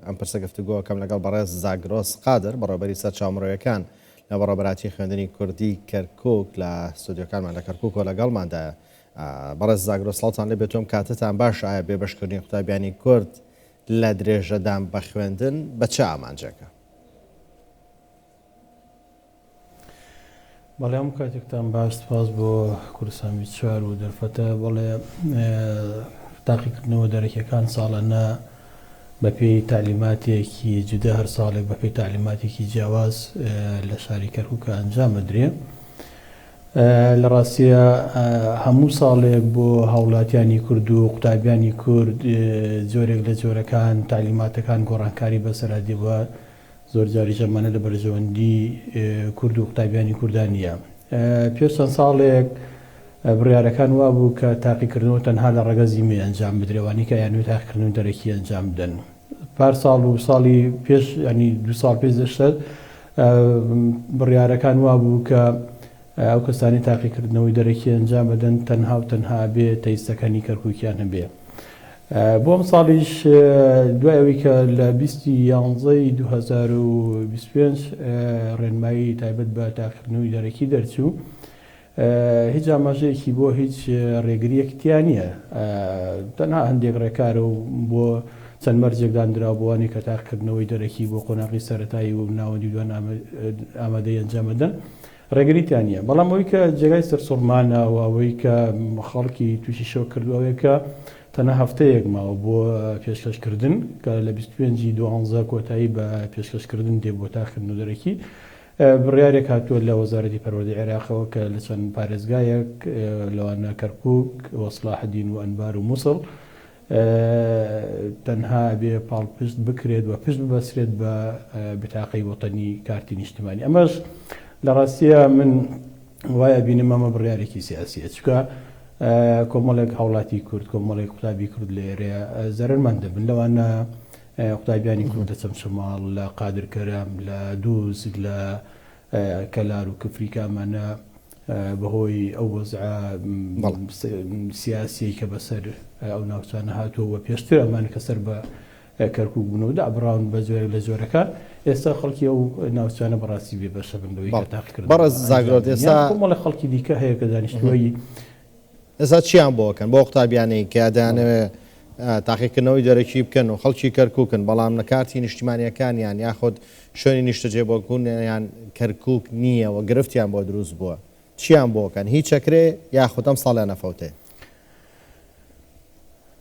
ئەم پرسە گفتوگۆ ئەکەم لەگەڵ بەڕێز زاگرۆس قادر، بەڕێوەبەری سەرچاوە مرۆیەکان لە بەڕێوەبەرایەتی خوێندنی کوردی کەرکوک لە ستۆدیۆکانمان لە کەرکوک و لەگەڵماندایە. بەڕێز زاگرۆس سڵاوتان لێ بێت و ئەم کاتەتان باشە، ئایا بێبەشکردنی قوتابیانی کورد لە درێژەدان بە خوێندن بە چ ئامانجێکە؟ بەڵێ هەموو کاتێکتان باش سپاس بۆ کوردستان بیست چوار و دەرفەتە بەڵێ تاقیکردنەوە دەرەکیەکان ساڵانە بەپێی تعلیماتێکی جودە هەر ساڵێک بەپێی تعلیماتێکی جیاواز لە شاری کەرکووکە ئەنجام بدرێ لە ڕاستیە هەموو ساڵێک بۆ هاوڵاتیانی کورد و قوتابیانی کورد جۆرێک لە جۆرەکان تعلیماتەکان گۆڕانکاری بەسەرا دیوە زۆرجاریش ئەمانە لە بەرژەوەندی کورد و قوتابیانی کوردا نییە. پێش چەند ساڵێک بڕیارەکان وا بوو کە تاقیکردنەوە تەنها لە ڕەگەزی مێ ئەنجام بدرێ، ئەوانەی کە ئەیانەوێت تاقیکردنەوەی دەرەکی ئەنجام بدەن. پار ساڵ و ساڵی پێش ینی دو ساڵ پێش دەشتەر بڕیارەکان وا بوو کە ئەو کەسانی تاقیکردنەوەی دەرەکی ئەنجام بدەن تەنها و تەنها بێ تەیستەکانی کەرکووکیان هەبێ. بۆ ئەمساڵیش دوای ئەوەی کە لە بیست ی یانزە ی دوو هەزار و بیست و پێنج ڕێنمایی تایبەت بە تاقیکردنەوەی دەرەکی دەرچوو، هیچ ئاماژەیەکی بۆ هیچ ڕێگرییەک تیا نییە، تەنها هەندێک ڕێکارە و بۆ چەند مەرجێک دانراوە بۆ ئەوانەی کە تاقیکردنەوەی دەرەکی بۆ قۆناغی سەرەتایی و ناوەندی و دوان ئامادەی ئەنجام ئەدەن. ڕێگری تیان نیە بەڵام ئەوەی کە جێگای سەرسوڕمانە و ئەوەی کە خەڵکی توشی شۆک کردوە ئەوەیە کە تەنها هەفتەیەک ماوە بۆ پێشکەش کردن کە لە بیست و پێنج ی دوازدە کۆتایی بە پێشکەش کردن دێ بۆ تاقیکردن و دەرەکی بڕیارێک هاتوە لە وەزارەتی پەروەردەی عێراقەوە کە لە چەند پارێزگایەک لەوانە کەرکوک و سڵاحەدین و ئەنبار و موسڵ تەنها ئەبێ پاڵپشت بکرێت و پشت ببەسرێت بە بتاقەی وەتەنی کارتی نیشتمانی ئەمەش لە ڕاستیە من وای ئەبینم ئەمە بڕیارێکی سیاسیە چکە کۆمەڵێک هاوڵاتی کورد کۆمەڵێک قوتابی کورد لە ئێرەیە زەرمەند دەبن لەوانە قوتابیانی کورد لە چەمچەماڵ لە قادرکەرەم لە دووز لە کەلار و کفری کامانە بەهۆی ئەو وەزعە سیاسیەی کە بەسەر ئەو ناوچانە هاتووە و پێشتر ئەمان کە سەر بە کەرکک بوون و دابراون بە جۆرە لە جۆرەکان ئێستا خەڵکی ئەو ناوچانە بەڕاستی بێ بەشە بن لەوەی تاقیکرد بەڕ زاگرۆ ئێستا خەڵکی دیکە هەیە کە دانیشتوی ئێستا چیان بۆ ئەکەن بەو قوتابیانەی کە دەیانەوێ تاقیکردنەوەی دەرەکی بکەن و خەڵکی کەرکوکن بەڵام نە کارتی نیشتیمانیەکانیان یاخود شوێنی نیشتەجێبوونیان کەرکوک نییە و گرفتیان بۆ دروست بووە چیان بۆ ئەکەن هیچ ئەکرێ یاخود ئەم ساڵیان ئەفەوتێ؟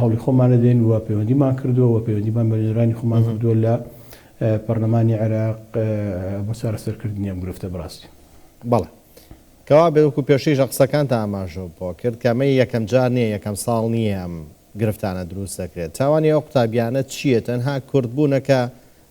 هەوڵی خۆمان دەدەین و پەیوەندیمان کردووە و پەیوەندیمان بە نوێنەرانی خۆمان کردووە لە پەرلەمانی عێراق بۆ چارەسەرکردنی ئەم گرفتە بەڕاستی. بەڵێ. کەوابێت وەکو پێشتریش لە قسەکانتا ئاماژەو بۆ کرد کە ئەمە یەکەم جار نیە یەکەم ساڵ نیە ئەم گرفتانە دروست دەکرێت تاوانی ئەو قوتابیانە چیە تەنها کورد بوونە کە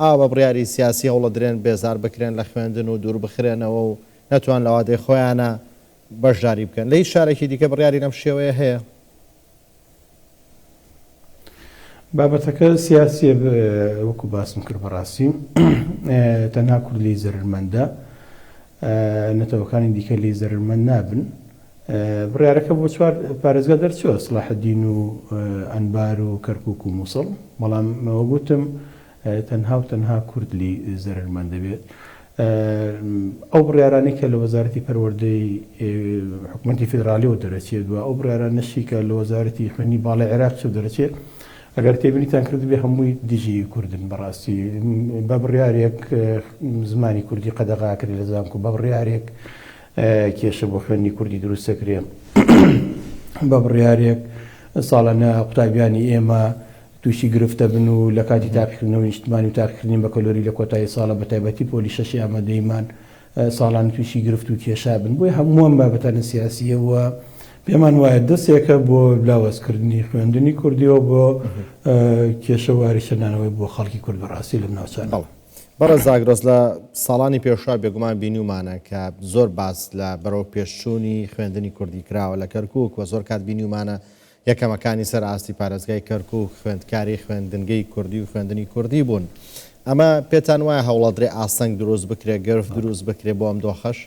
ئاوا بە بڕیاری سیاسی هەوڵەدرێن بێزار بکرێن لە خوێندن و دوور بخرێنەوە و نەتوان لە وادەی خۆیانە بەشداری بکەن لە هیچ شارێکی دیکە بڕیاری لەم شێوەیە هەیە؟ بابەتەکە سیاسیە وەکو باسم کرد بەڕاستی تەنها کورد لی زەرمەندە نەتەوەکانی دیکە لی زەرمەند نابن بڕارەکە بۆ چوار پارێزگا دەرچوە سلاحدین و ئەنبار و کەرکک و مووسڵ بەڵام وەگوتم تەنها و تەنها کورد لێی زەرەرمەند دەبێت. ئەو بڕیارانەی کە لە وەزارەتی پەروەردەی حکومەتی فیدرالیەوە دەرەچێت و ئەو بڕیارانەشی کە لە وەزارەتی خوێندنی باڵای عێراق چێ دەرەچێت ئەگەر تێبینیتان کردبێ هەمووی دژی کوردن بەڕاستی بە بڕیارێک زمانی کوردی قەدەغا کرێ لە زانکۆ بە بڕیارێک کێشە بۆ خوێندنی کوردی دروست دەکرێ بە بڕیارێک ساڵانە قوتابیانی ئێمە تووشی گرفت دەبن و لە کاتی تاقیکردنەوەی نیشتمانی و تاقیکردنی بەکەلۆری لە کۆتایی ساڵە بە تایبەتی پۆلی شەشی ئامادەییمان ساڵانە تووشی گرفت و کێشا بن بۆیە هەموو ئەم بابەتانە سیاسییە و پێمان وایە دەستێکە بۆ لاوازکردنی خوێندنی کوردیەوە بۆ کێشە و ئاریشەنانەوەی بۆ خەڵکی کورد بەڕاستی لەم ناوچانە. بەڕێز ئاگرەس لە ساڵانی پێشوە بێگومان بینیومانە کە زۆر باس لە بەرەوپێشچوونی خوێندنی کوردی کراوە لە کەرکووک و زۆر کات بینیومانە یەکەمەکانی سەر ئاستی پارێزگای کەرکووک خوێندکاری خوێندنگەی کوردی و خوێندنی کوردی بوون. ئەمە پێتان وایە هەوڵەدرێ ئاستەنگ دروست بکرێ، گرفت دروست بکرێ بۆ ئەم دۆخەش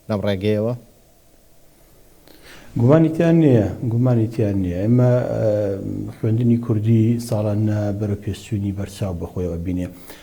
لەم ڕێگەیەوە؟ گومانی تیا نییە، گومانی تیا نییە. ئێمە خوێندنی کوردی ساڵانە بەرەوپێشچوونی بەرچاو بەخۆیەوە بینێ.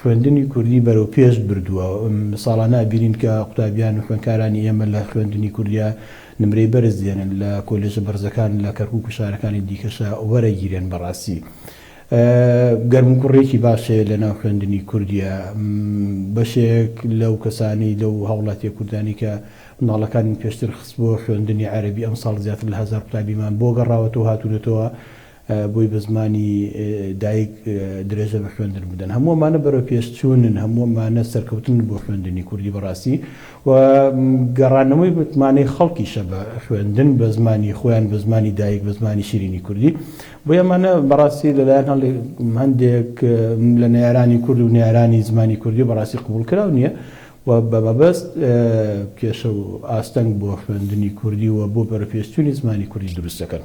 خوێندنی کوردی بەرەو پێش بردووە، ساڵانە ئەبینین کە قوتابیان و خوێندکارانی ئێمە لە خوێندنی کوردیا نمرەی بەرز دێنن، لە کۆلێژە بەرزەکان لە کەرکوک و شارەکانی دیکەشا وەرەگیرێن، بەڕاستی گەرموگوڕێکی باش هەیە لە ناو خوێندنی کوردیا، بەشێک لەو کەسانەی لەو هاوڵاتیە کوردانەی کە مناڵەکانیان پێشتر خستبووە خوێندنی عەرەبی ئەمساڵ زیاتر لە هەزار قوتابیمان بۆ گەڕاوەتەوە هاتونەتەوە بۆی بە زمانی دایک درێژە بە خوێندن بدەن هەموو ئەمانە بەرەو پێش چوونن هەموو ئەمانە سەرکەوتنن بۆ خوێندنی کوردی بەڕاستی و گەڕانەوەی متمانەی خەڵکیشە بە خوێندن بە زمانی خۆیان بە زمانی دایک بە زمانی شیرینی کوردی بۆ ئەمانە بەڕاستی لەلایەن هەڵێ هەندێک لە نەیارانی کورد و نەیارانی زمانی کوردی بەڕاستی قبول کراو نییە و بە مەبەست کێشە و ئاستەنگ بۆ خوێندنی کوردی و بۆ بەرەپێشچوونی زمانی کوردی دروست دەکەن.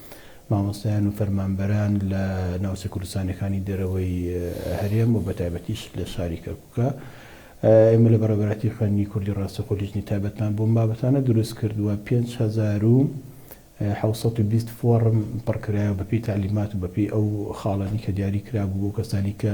مامۆستایان و فەرمانبەران لە ناوچە کوردستانیەکانی دەرەوەی هەرێم و بەتایبەتیش لە شاری کەرکوکە ئێمە لە بەڕێوەبەرایەتی خوێندنی کوردی ڕاستەخۆ لیژنەی تایبەتمان بۆم بابەتانە دروست کردووە پێنج هەزار و حەوت سەد و بیست فۆڕم پڕکرایەوە بەپێی تەعلیمات و بەپێی ئەو خاڵانی کە دیاری کرابوو بۆ کەسانی کە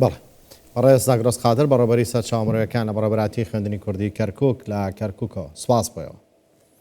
بەڵێ. بەڕێز زاگرۆس قادر بە ڕێبەری سەرچاوە مرۆیەکان لە بەڕێبەرایەتی خوێندنی کوردی کەرکوک لە کەرکوکەوە. سوپاس بۆیەوە.